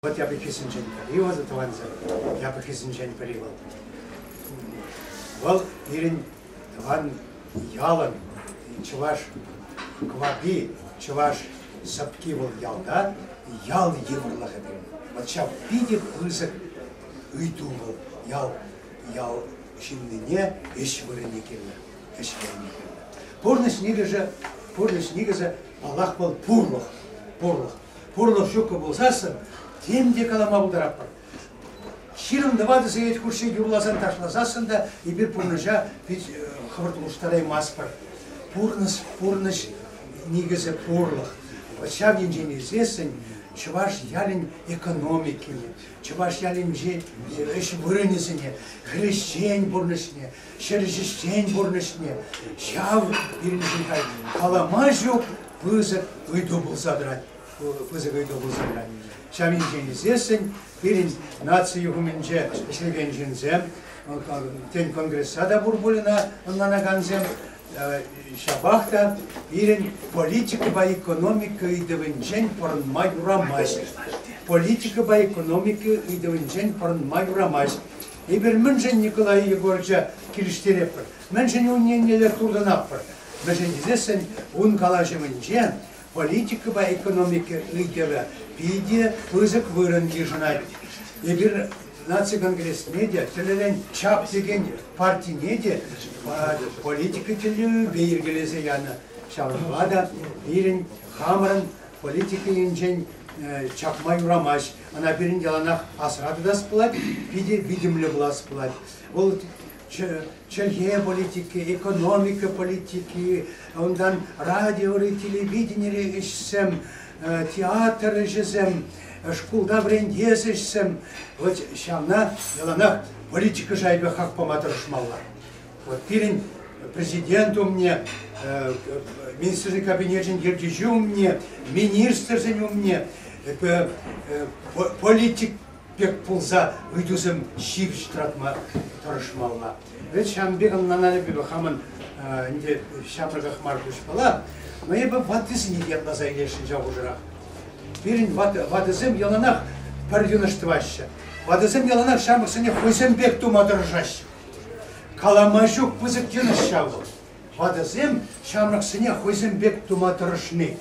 Вӑт япӑххисенчен пӗри вӑл, тӑвансем, япӑххисенчен пӗри вӑл. Вӑл пирӗн тӑван ялӑн чӑваш квапи, чӑваш сӑпки вӑл ялта, ял йывӑрлӑхӗ пирӗн. Вӑт ҫав питӗ пысӑк ыйту вӑл ял, ял ҫыннине ӗҫ вырӑнне кирлӗ, ӗҫ вырӑнне кирлӗ. Пурнӑҫ нигӗшӗ, пурнӑҫ никӗсӗ, паллах, вӑл пурлӑх, пурлӑх. пурлӑх ҫуккӑ пулсассӑн тем те калама пултаратпӑр. Ҫирӗм тӑватӑ сехет хушши юрласан-ташласассӑн та эпир пурнӑҫа пит хӑвӑрт улӑштараймастпӑр. Пурнӑҫ, пурнӑҫ никӗсӗ пурлӑх. Вот ҫав енчен иртсессӗн чӑваш ялӗн экономикине, чӑваш ялӗнче ӗҫ вырӑнӗсене, хресчен пурнӑҫне, ҫӗр ҫӗҫчен пурнӑҫне ҫав пирӗншӗн хальтен калама ҫук пысӑк ыйту пулса тӑрать пысӑк ыйту пулса тӑрать. Ҫав енчен ӳсессӗн пирӗн наци юхӑмӗнче ӗҫлекен ҫынсем, тен конгресса та пур пуль ӑна ӑнланакансем, ҫапах та пирӗн политикӑпа экономика ыйтӑвӗнчен пӑрӑнма юрамасть. Политикӑпа экономика ыйтӑвӗнчен пӑрӑнма юрамасть. Эпир мӗншӗн Николай Егорыча килӗштеретпӗр, мӗншӗн ун еннелле туртӑнатпӑр, мӗншӗн тесессӗн ун калаҫӑвӗнче политикӑпа экономика ыйтӑвӗ питӗ пысӑк вырӑн йышӑнать. Эпир наци конгресне те, тӗлӗнен чап текен партине те политика тӗллевӗпе йӗркелесе янӑ. Ҫавӑнпа та пирӗн хамӑрӑн политика енчен чакма юрамасть. Ӑна пирӗн яланах асра тытас пулать, питӗ витӗмлӗ пулас пулать. Вӑл чӗлхе политики, экономика политики, унтан радиори, телевиденири ӗҫсем, театр ӗҫӗсем, шкулта вӗрентес ӗҫсем. Вот ҫавна яланах политика шайӗпе хак пама тӑрӑшмалла. пирӗн Президент умне, Министрсен Кабинечӗн Ертӳҫи умне, министрсен умне политик пек пулса ыйтусем ҫивӗч тӑратма тӑрӑшмалла. Вӗт ҫавӑн пек ӑнланануллипе хамӑн ӗнтӗ ҫамрӑках мар куҫпала, но эпӗ ваттисене ятласа илесшӗн ҫав хушӑрах. Пирӗн ватӑсем яланах пӗр йӑнӑш тӑваҫҫӗ. Ватӑсем яланах ҫамрӑксене хӑйсем пек тума тӑрӑшаҫҫӗ. Калама ҫук пысӑк йӑнӑш ҫав вӑл. Ватӑсем ҫамрӑксене хӑйсем пек тума тӑрӑшни.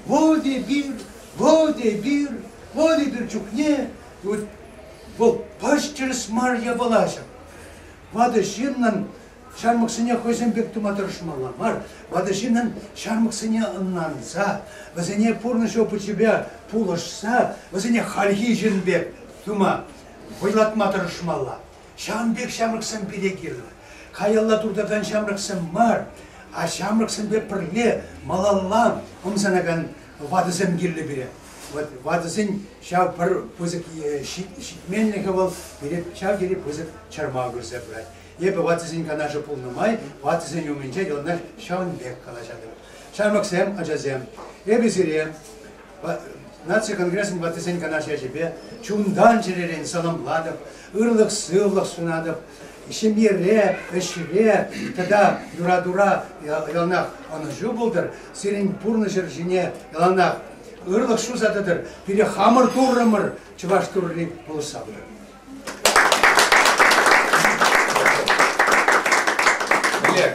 Вӑл эпир, вӑл эпир, вӑл эпир чухне вӑл пач тӗрӗс мар япала ҫав. Ватӑ ҫыннӑн ҫамрӑксене хӑйсем пек тума тӑрӑшмалла мар. Ватӑ ҫыннӑн ҫамрӑксене ӑнланса, вӗсене пурнӑҫ опычӗпе пулӑшса, вӗсене хальхи ҫын пек тума вӑйлатма тӑрӑшмалла. Ҫавӑн пек ҫамрӑксем пире кирлӗ. Каялла туртакан ҫамрӑксем мар, а ҫамрӑксемпе пӗрле малалла ӑмсанакан ватӑсем кирлӗ пире. Вот ватӑсен ҫав пӗр пысӑк ҫитменлӗхӗ вӑл, пире ҫав тери пысӑк чӑрмав кӳрсе пырать. Эпӗ ватӑсен канашӗ пулнӑ май ватӑсен умӗнче яланах ҫавӑн пек калаҫатӑп. Ҫамрӑксем, ачасем, эпӗ сире Наци конгресӗн ваттисен канаш ячӗпе чунтан чӗререн сӑнӑмлатӑп, ырлӑх-сывлӑх сунатӑп. Ҫемьере, ӗҫре тата юратура яланах ӑнӑҫу пултӑр, сирӗн пурнӑҫӑр ҫине яланах ырлӑх ҫуса тӑтӑр, пире хамӑр Туррӑмӑр чӑваш Турри пулӑшса пырӑр. Олег,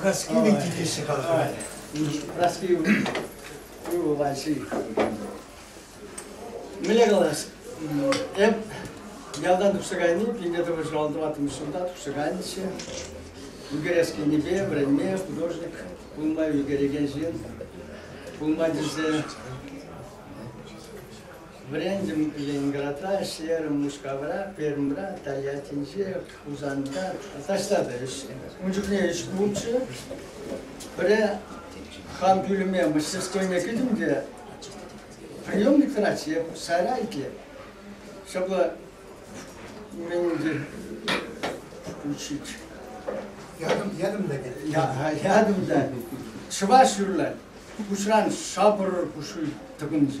Праски вити теҫҫӗ халӑхра. Праски вулаҫҫи. Мӗне калас? Эп ялтан тухса кайни, пине тӑвӑр ҫуралтӑваттӑмӗш ҫулта тухса кайнӑччӗ. Ӳкерес енӗпе вӗренме художник пулма ӳкерекен ҫын пулма тесе Вӗрентӗм Ленинградра, ӗҫлерӗм Мускавра, Пермьра, Тольяттинче, Хусанта таҫта та ӗҫлерӗм. Ун чухне ӗҫ пулчӗ. Пӗрре хам пӳлӗме мастерскойне кӗтӗм те приемник тӑратчӗ, я сара итле, чтобы меньше включить. Ядом, ядом да нет. Я, ядом да. Чӑваш юрлать. Куҫран шапӑр пушуй тӑкӑнчӗ.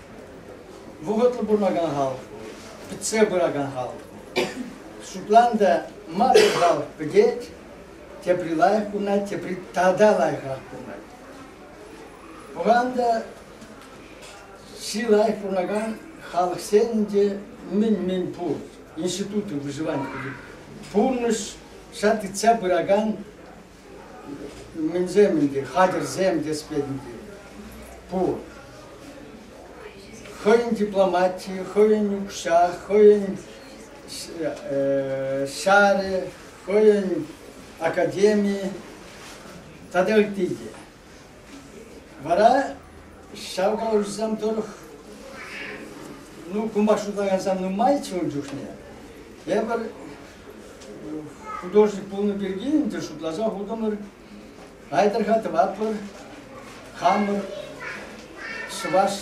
вӑхӑтлӑ пурӑнакан халӑх, пӗтсе пыракан халӑх. Шотландия массӑр халӑх пӗтет, тепри лайӑх пурӑнать, тепри тата лайӑхрах пурӑнать. Пуранда чи лайӑх пурӑнакан халӑхсен те мӗн-мӗн пур. Институты выживания, пурнӑҫ, ҫак тытса пыракан Мӗнсем ӗнтӗ, хатӗрсем тӗспе ӗнтӗ. Пур. Хӑйӗн дипломати, хӑйӗн укҫа, хӑйӗн ҫарӗ, хӑйӗн академи тата ытти те. Вара ҫав калаҫусем тӑрӑх ну кунпа шутлакансем нумайччӗ ун чухне. Тепӗр Художник пулнӑ пирки ӗнтӗ шутласа хутӑмӑр. Айтӑрха тӑватпӑр. Хамӑр чӑваш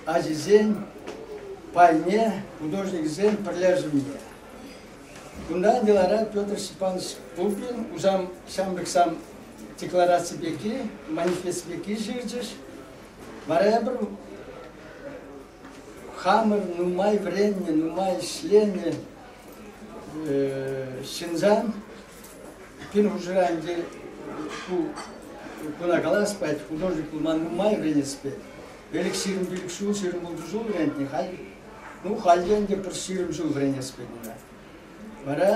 ачисен пайне художниксен пӗрлешӗвне. Кунтан йӑлара Петр Степанович Пупин усам ҫамрӑксам деклараци пирки, манифест пирки ҫырчӗҫ. Вара эпир Хамӑр нумай вӗреннӗ, нумай ӗҫленӗ ҫынсан пин хушӑра ӗнтӗ ку куна калас пать, художник пулма нумай вӗренес пет. Ӗлӗк ҫирӗм пилӗк ҫул, ҫирӗм ултӑ ҫул вӗрентнӗ, халь, ну, халь те ӗнтӗ пӗр ҫирӗм ҫул вӗренес пет унта. Вара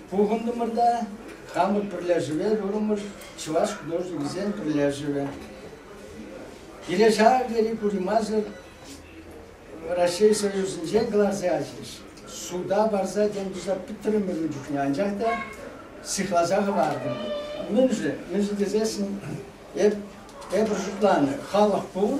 пухӑнтӑмӑр та хамӑр пӗрлешӗве турӑмӑр чӑваш художникӗсен пӗрлешӗвӗ. Киле ҫав тери курӑмасӑр Раҫҫей Союзӗнчен кӑларса ячӗҫ. Суда парса тем туса пӗтрӗмӗр ун чухне, анчах та сыхласа хӑвартӑмӑр. Мӗншӗн? Мӗншӗн тесессӗн эп, эпир шутланӑ, халӑх пур,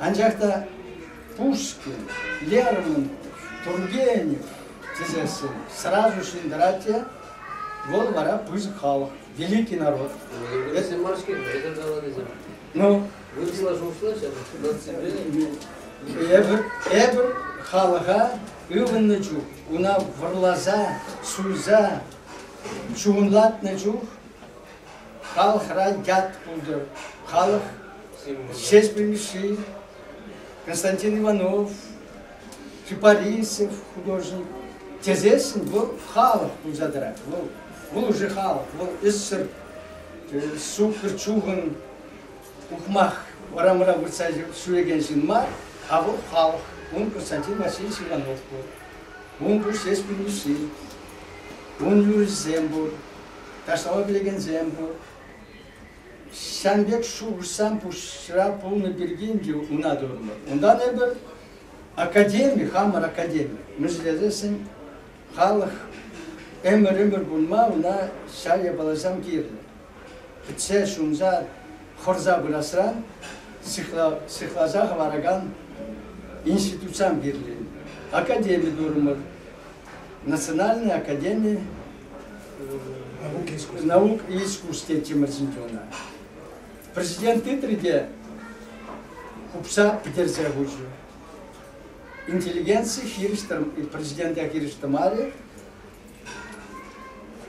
Анчах та Пушкин, Лермонтов, Тургенев тесессӗн сразу ҫӗнтерать те вӑл вара пысӑк халӑх, великий народ. Эсӗ мар-ҫке, эсӗ каланисем. Ну? Вырӑсла шухӑшлаҫҫӗ, эпир, эпир халӑха ывӑннӑ чух, уна вӑрласа, суйса, чухӑнлатнӑ чух Халӑхра ят пултӑр, халӑх ҫеҫпӗлҫи Константин Иванов, Чупарисев художник тесессӗн вӑл халӑх пулса тӑрать. Вӑл, вӑл уже халӑх, вӑл ӗссӗр суккӑр чухӑн ухмах урамра выртса ҫӳрекен ҫын мар, а вӑл халӑх. Ун Константин Васильевич Иванов пур. Ун пур ҫеҫпӗлҫи, ун юрӑҫсем пур. Ташлава пилекенсем пур. Ҫан пек шухӑшсам пуҫра пулнӑ пирки ӗнтӗ унатурӑмӑр. Унтан эпир академи, хамӑр академи мӗшӗлесен халӑх ӗмӗр-ӗмӗр пулма ӑна ҫав япаласем кирлӗ. Кӗтсе ҫунса хӑрса пырасран сыхласа хӑваракан институтсем кирлӗ. Академи турӑмӑр. Национальная академи Наук искусстве тимӗрсенче ӑна. Президент тытрӗ те хупса пӗтерсе хучӗ. Интеллигенци хирӗҫтӗм, президента хирӗҫтӗмарӗ.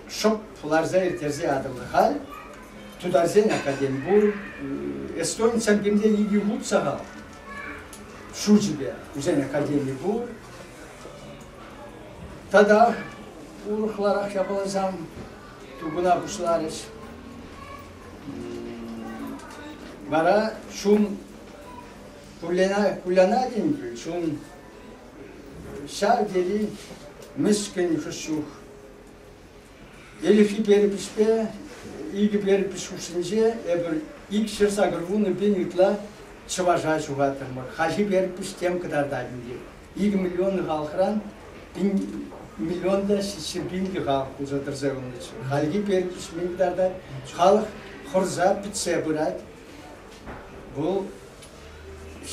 Шӑп ларса ирттерсе атӑлнӑ халь. Тутарсен академ пур, эстонцам кимден икӗ хут сахал. Шучӗпе, усен академи пур. Тата урӑхларах япаласем тупӑна пуҫларӗҫ. Вара чун кулляна, кулляна тенкел чун ҫав тери мӗскӗн хӑш чух. Элӗхи перепиҫпе икӗ перепись хушшинче эпир икҫӗр сакӑр вунӑ пин ытла чӑваша ҫухаттӑмӑр. Хаҫи перепись тем кӑтартать ӗнтӗ. икӗ миллион халӑхран пин миллионлӑ ҫиччӗ пинлӗ халӑх пулса тӑрса юлнӑччӗ. Хальхи перекеҫме кӑтартать. Халӑх хӑрса пӗтсе пырать. Вӑл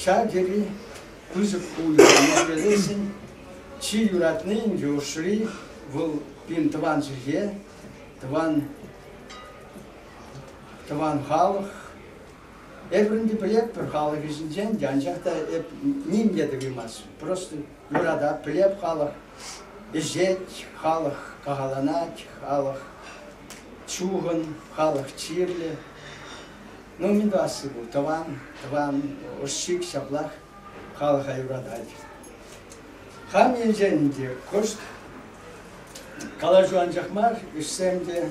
ҫав тери пысӑк пулӑ. Моргелесӗн чи юратни Индюшри, вӑл пин тӑван чӗлхе, тӑван тӑван халӑх, Эпир ӗнтӗ пӗлетпӗр, халӑх ӗҫӗнчен те анчах та эп ним те тӑвимасть. Просто юратать, пӗлеп халӑх ӗҫет, халӑх кахаланать, халӑх чухӑн, халӑх чирлӗ. Ну, мӗн тӑвасси ку, тӑван, тӑван, ӑшшик ҫаплах халӑха юратать. Хам енчен те кӑшт калаҫу анчах мар, ӗҫсем те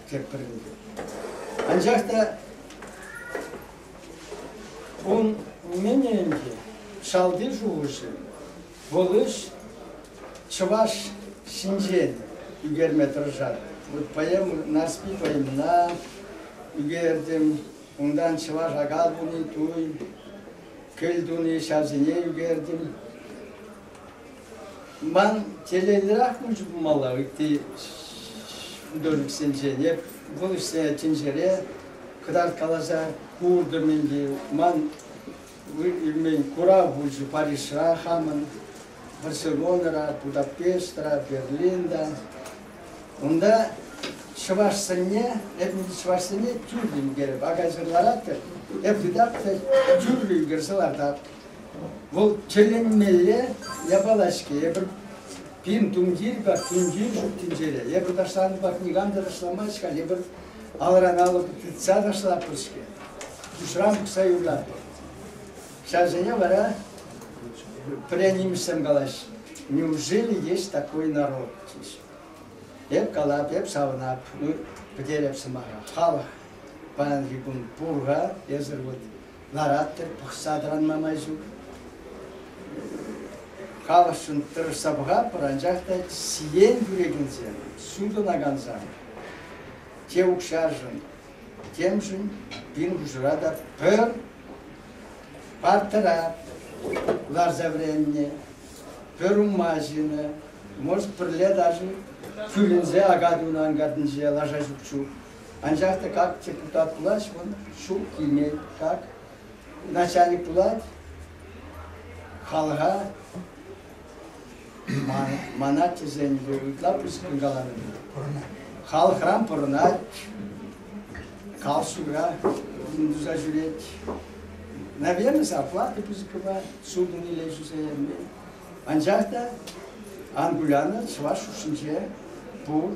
тек пӗлӗнтӗм. Анчах та ун умӗнче шалти шухӑшӗ вӑл ӗҫ чӑваш ҫинчен ӳкерме тӑрӑшатӑп. Вот поэму Нарспи поэмна ӳкертӗм, унтан чӑваш акал туни туй, кӗл туни ҫавсене ӳкертӗм. Ман телейлӗрах мӗншӗн пулмалла ытти художниксенчен? Эп вӑл ӗҫсе тӗнчере кӑтарткаласа куртӑм ӗнтӗ. Ман илмен курав пулчӗ Парижра хамӑн Барселонӑра, Будапештра, Берлинта. Унта чӑваш сӑнне, эп ӗнтӗ чӑваш сӑнне тӳрлӗн ӳкерӗп. Акаҫыр ларатӑп, эп редактор тӳрлӗ ӳкерсе лартап. Вӑл тӗлӗнмелле япала-ҫке. Эпир пин тумтир пек тумтир ҫук тӗнчере. Эпир ташланӑ пек никам та ташламасть-ха. Эпир алран-алӑк тытса ташлатпӑр-ҫке. Пуҫран пӑхса юрлатпӑр. Ҫавсене вара пӗренимӗшсем калаҫҫӗ. Неужели есть такой народ? Эп калап, эп савӑнап, ну, пӗтереп сӑмаха. Халӑх паянхи кун пур-ха, эсир вот Лараттӑр, пӑхса тӑранма май ҫук. Халӑхшӑн тӑрӑшса пӑхатпӑр, анчах та сиен кӳрекенсем, сутӑнакансем те укҫашӑн, темшӗн пин хушӑра та пӗр партӑра ларса вӗреннӗ, пӗр умма ҫинӗ. Может, пӗрле даже кӳренсе ака тунӑ анкартинче лаша ҫук чух Анчах та как депутат пуласшӑн, ҫук килмен. Как начальник пулать, халӑха мана тӗсенче ытла пысӑккӑн каланӑ Халӑхран пӑрӑнать, калшура туса ҫӳрет. Наверное, зарплата пысӑккапа судын иле ҫӳселенмен. Анчах та Ангуляна чӑваш хушшинче пур